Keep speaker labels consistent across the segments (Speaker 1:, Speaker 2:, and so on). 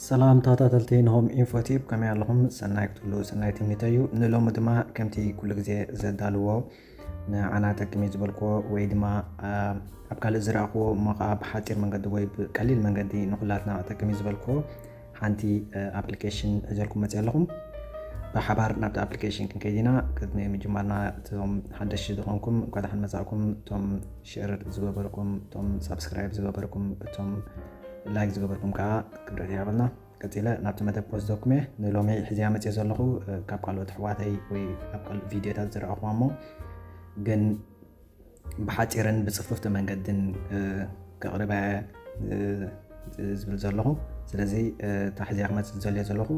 Speaker 1: ሰላም ተኸታተልቲ ንሆም ኢንፎ ቲዩብ ከመይ ኣለኹም? ሰናይ ክትብሉ ሰናይ ትምኒተይ እዩ። ንሎሚ ድማ ከምቲ ኩሉ ግዜ ዘዳልዎ ንዓና ጠቅሚ ዝበልክዎ ወይ ድማ ኣብ ካልእ ዝረእኽዎ እሞ ከዓ ብሓፂር መንገዲ ወይ ብቀሊል መንገዲ ንኩላትና ጠቅሚ ዝበልክዎ ሓንቲ ኣፕሊኬሽን ሒዘልኩም መፅእ ኣለኹም ብሓባር ናብቲ ኣፕሊኬሽን ክንከይድ ኢና ቅድሚ ምጅማርና እቶም ሓደሽቲ ዝኾንኩም እንኳ ደሓን መፃእኩም እቶም ሸር ዝገበርኩም እቶም ሳብስክራይብ ዝገበርኩም እቶም ላይክ ዝገበርኩም ከዓ ክብረት ይሃበልና ቀፂለ ናብቲ መደብ ክወስደኩም እየ ንሎሚ ሕዚያ መፅዮ ዘለኹ ካብ ካልኦት ኣሕዋተይ ወይ ኣብ ካልእ ቪድዮታት ዝረኣኹዋ እሞ ግን ብሓጺርን ብጽፍፍቲ መንገድን ከቕርበ ዝብል ዘለኹ ስለዚ ታሕዚያ ክመፅእ ዝደልዮ ዘለኹ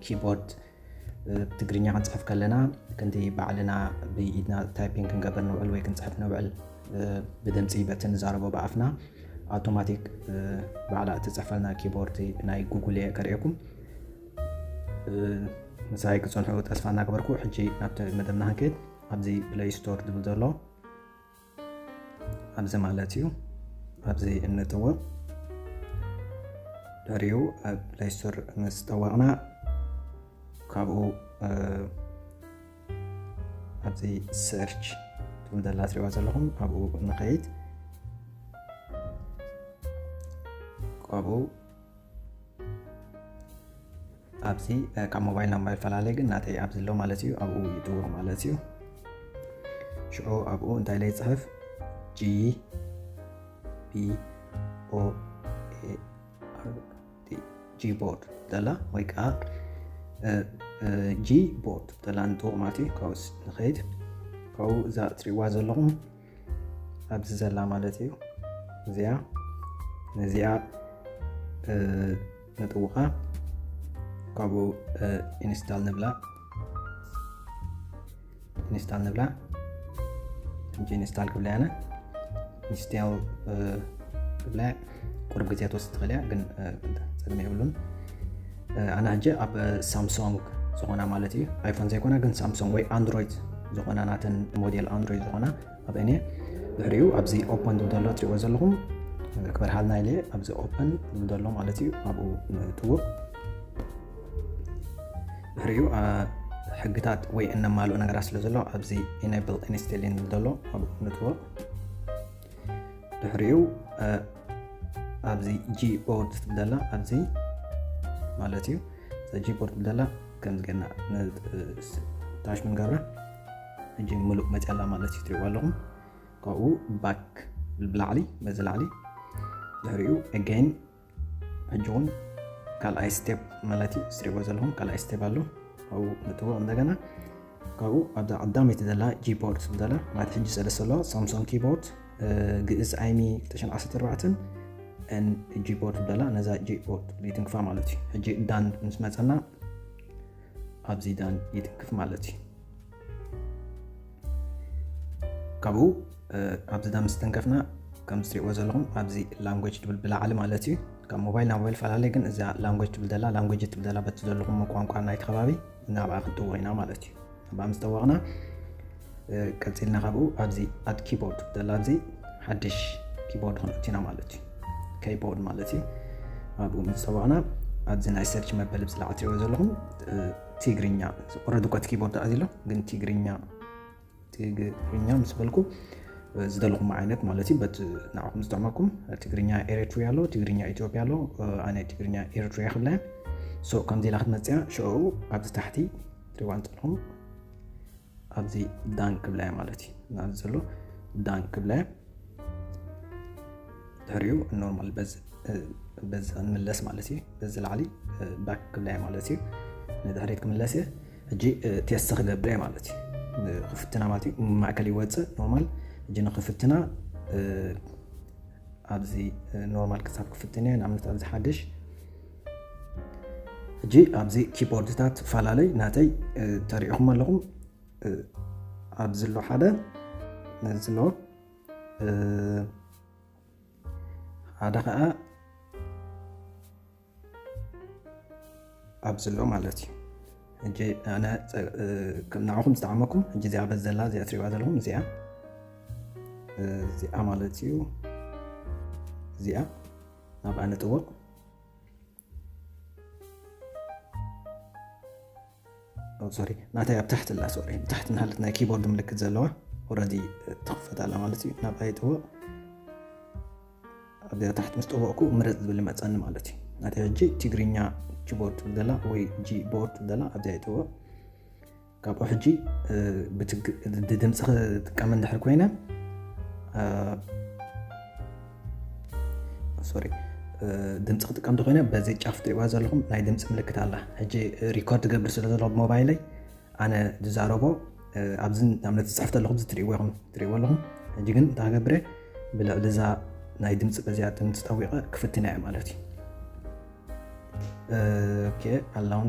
Speaker 1: ኪቦርድ ትግርኛ ክንፅሕፍ ከለና ክንዲ ባዕልና ብኢድና ታይፒንግ ክንገብር ንውዕል ወይ ክንፅሕፍ ንውዕል ብድምፂ በቲ ንዛረቦ ብኣፍና ኣውቶማቲክ ባዕላ እትፅሕፈልና ኪቦርድ ናይ ጉጉል እየ ከርእየኩም ምሳይ ክፀንሑ ተስፋ እናገበርኩ ሕጂ ናብቲ መደብና ክንከይድ ኣብዚ ፕለይ ስቶር ድብል ዘሎ ኣብዚ ማለት እዩ ኣብዚ እንጥዎ ድሕሪኡ ኣብ ፕለይ ስቶር ምስ ጠወቕና ካብኡ ኣብዚ ሰርች ትብል ዘላ ትሪእዋ ዘለኹም ኣብኡ ንኸይድ ካብኡ ኣብዚ ካብ ሞባይል ናብ ሞባይል ፈላለየ ግን ናተይ ኣብዚ ኣሎ ማለት እዩ ኣብኡ ይጥዎ ማለት እዩ ሽዑ ኣብኡ እንታይ ለይ ፅሕፍ ጂ ቢ ኦ ኤ ኣር ቲ ጂ ቦርድ ተላ ወይ ከዓ ጂ ቦርድ ተላ ንጥዎ ማለት እዩ ካብኡስ ንኸይድ ካብኡ እዛ እትሪእዋ ዘለኹም ኣብዚ ዘላ ማለት እዩ እዚኣ ነዚኣ ነጥውቓ ካብኡ ኢንስታል ንብላ ኢንስታል ንብላ ሕጂ ኢንስታል ክብላ ያነ ኢንስታል ክብላ ቁሩብ ግዜ ትወስድ ትኽእል እያ ግን ፀገም የብሉን ኣነ ሕጂ ኣብ ሳምሶንግ ዝኾና ማለት እዩ ኣይፎን ዘይኮና ግን ሳምሶንግ ወይ ኣንድሮይድ ዝኾና ናተን ሞዴል ኣንድሮይድ ዝኾና ኣብ እኔ ድሕሪኡ ኣብዚ ኦፐን ዝብል ዘሎ እትሪእዎ ዘለኹም ክበርሃልና ኢለ ኣብዚ ኦፐን ዝብል ዘሎ ማለት እዩ ኣብኡ ንትውቕ ድሕሪኡ ሕግታት ወይ እነማልኦ ነገራት ስለ ዘሎ ኣብዚ ኢነብል ኢንስቴሊን ዝብል ዘሎ ኣብኡ ንትውቕ ድሕሪኡ ኣብዚ ጂቦርድ ትብለላ ኣብዚ ማለት እዩ ጂቦርድ ትብለላ ከምዚ ገና ታሽ ምንገብራ እጂ ምሉእ መፅያላ ማለት እዩ ትሪእዋ ኣለኹም ካብኡ ባክ ብላዕሊ በዚ ላዕሊ ድሕሪኡ ኣገይን ሕጂ እውን ካልኣይ ስቴፕ ማለት እዩ ዝሪእዎ ዘለኹም ካልኣይ ስቴፕ ኣሎ ካብኡ ንጥዎ እንደገና ካብኡ ኣብዛ ቀዳመይቲ ዘላ ጂቦርድ ዘላ ማለት ሕጂ ሰለስተ ኣለዋ ሳምሶንግ ኪቦርድ ግእዝ ዓይኒ 214 ን ጂቦርድ ዘላ ነዛ ጂቦርድ ይትንክፋ ማለት እዩ ሕጂ ዳን ምስ መፀና ኣብዚ ዳን ይትንክፍ ማለት እዩ ካብኡ ኣብዚ ዳ ምስተንከፍና ከም ዝትሪእዎ ዘለኹም ኣብዚ ላንጎጅ ትብል ብላዕሊ ማለት እዩ ካብ ሞባይል ናብ ሞባይል ፈላለየ ግን እዛ ላንጎጅ ትብል ዘላ ላንጎጅ ትብል ዘላ በቲ ዘለኹም ቋንቋ ናይቲ ከባቢ ናብኣ ክንጥወቕ ኢና ማለት እዩ ናብኣ ምስ ጠወቕና ቀፂልና ካብኡ ኣብዚ ኣድ ኪቦርድ ዘላ ኣብዚ ሓድሽ ኪቦርድ ክንእት ኢና ማለት እዩ ከይቦርድ ማለት እዩ ኣብኡ ምስ ጠወቕና ኣብዚ ናይ ሰርች መበል ብፅላዕ ትሪእዎ ዘለኹም ትግርኛ ኦረዲ እኳ እቲ ኪቦርድ ኣዚ ኣሎ ግን ትግርኛ ትግርኛ ምስ በልኩ ዝደለኹም ዓይነት ማለት እዩ በት ንዓኹም ዝጠቕመኩም ትግርኛ ኤሪትሪያ ኣሎ ትግርኛ ኢትዮጵያ ኣሎ ኣነ ትግርኛ ኤሪትሪያ ክብላ ሶ ከምዚ ኢላ ክትመፅያ ሽዑ ኣብዚ ታሕቲ ትሪዋ እንፀልኹም ኣብዚ ዳን ክብላያ ማለት እዩ ናዚ ዘሎ ዳን ክብላያ ድሕሪኡ ኖርማል በዚ ክንምለስ ማለት እዩ በዚ ላዕሊ ባክ ክብላያ ማለት እዩ ንድሕሪት ክምለስ እየ ሕጂ ቴስት ክገብረ ማለት እዩ ክፍትና ማለት እዩ ማእከል ይወፅእ ኖርማል ሕጂ ንክፍትና ኣብዚ ኖርማል ክሳብ ክፍትን እየ ንኣብነት ኣብዚ ሓደሽ ሕጂ ኣብዚ ኪቦርድታት ፈላለይ ናተይ ተሪኢኹም ኣለኹም ኣብዚ ኣሎ ሓደ ነዚ ኣሎ ሓደ ከዓ ኣብዚ ኣሎ ማለት እዩ ሕጂ ኣነ ንዓኹም ዝጠዓመኩም ሕጂ እዚኣ በዚ ዘላ እዚኣ ትሪባ ዘለኹም እዚኣ እዚኣ ማለት እዩ እዚኣ ናብኣ ንጥወቅ ሶሪ ናተይ ኣብ ታሕቲ ኣላ ሶሪ ታሕቲ ናሃለት ናይ ኪቦርድ ምልክት ዘለዋ ወረዲ ትኽፈት ኣላ ማለት እዩ ናብ ኣይጥወቕ ኣብዚኣ ታሕቲ ምስ ጠወቕኩ ምረፅ ዝብል ይመፀኒ ማለት እዩ ናተይ ሕጂ ትግርኛ ኪቦርድ ትብል ዘላ ወይ ጂቦርድ ትብል ዘላ ኣብዚኣ ይጥወቕ ካብኡ ሕጂ ድምፂ ክጥቀም እንድሕር ኮይነ ሶሪ ድምፂ ክጥቀም እንተኮይነ በዚ ጫፍ ትሪእዋ ዘለኹም ናይ ድምፂ ምልክት ኣላ ሕጂ ሪኮርድ ገብር ስለ ዘሎ ሞባይለይ ኣነ ዝዛረቦ ኣብዚ ንኣብነት ዝፅሕፍ ዘለኹም ዝትሪእዎ ኢኹም ትሪእዎ ኣለኹም ሕጂ ግን እንታይ ገብረ ብልዕሊ እዛ ናይ ድምፂ በዚኣ ድምፂ ጠዊቐ ክፍትና እየ ማለት እዩ ኣላውን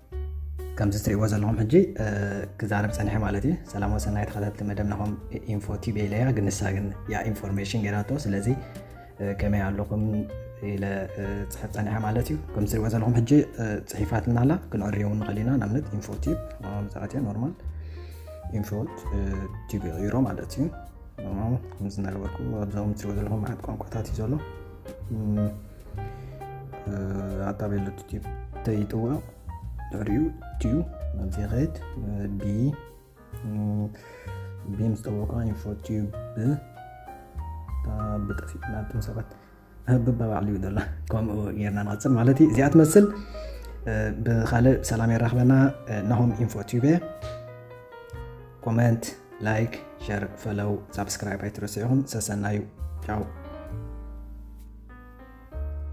Speaker 1: ከምዚ ትሪእዎ ዘለኹም ሕጂ ክዛረብ ፀኒሐ ማለት እዩ ሰላም ወሰናይ ተኸታተልቲ መደብ ናኹም ኢንፎ ቲቪ ኢለያ ግን ንሳ ግን ያ ኢንፎርሜሽን ገይራቶ ስለዚ ከመይ ኣለኹም ኢለ ፅሕፍ ፀኒሐ ማለት እዩ ከም ትሪእዎ ዘለኹም ሕጂ ፅሒፋትና ኣላ ክንዕርዮ እውን ንኽእል ኢና ንኣብነት ኢንፎ ቲብ መብዛሕትኦ ኖርማል ኢንፎ ቲብ ይቕይሮ ማለት እዩ ከምዚ እናገበርኩ ኣብዞም ትሪእዎ ዘለኹም መዓት ቋንቋታት እዩ ዘሎ ኣታቤሎ ቲዩብ ተይጥውዑ ድሕሪኡ ቲዩ ናብዚ ኸይድ ቢ ቢ ምስ ጠወቃ ኢንፎ ቲዩብ ብጠፊእ ናብቶም ሰባት ህብባ ባዕሉ እዩ ደላ ከምኡ ጌርና ንቐፅል ማለት እዩ እዚኣ ትመስል ብካልእ ሰላም የራኽበና ናሆም ኢንፎ ቲዩብ እየ ኮመንት ላይክ ሸር ፈለው ሳብስክራይብ ኣይትረስዑኹም ሰሰናዩ ቻው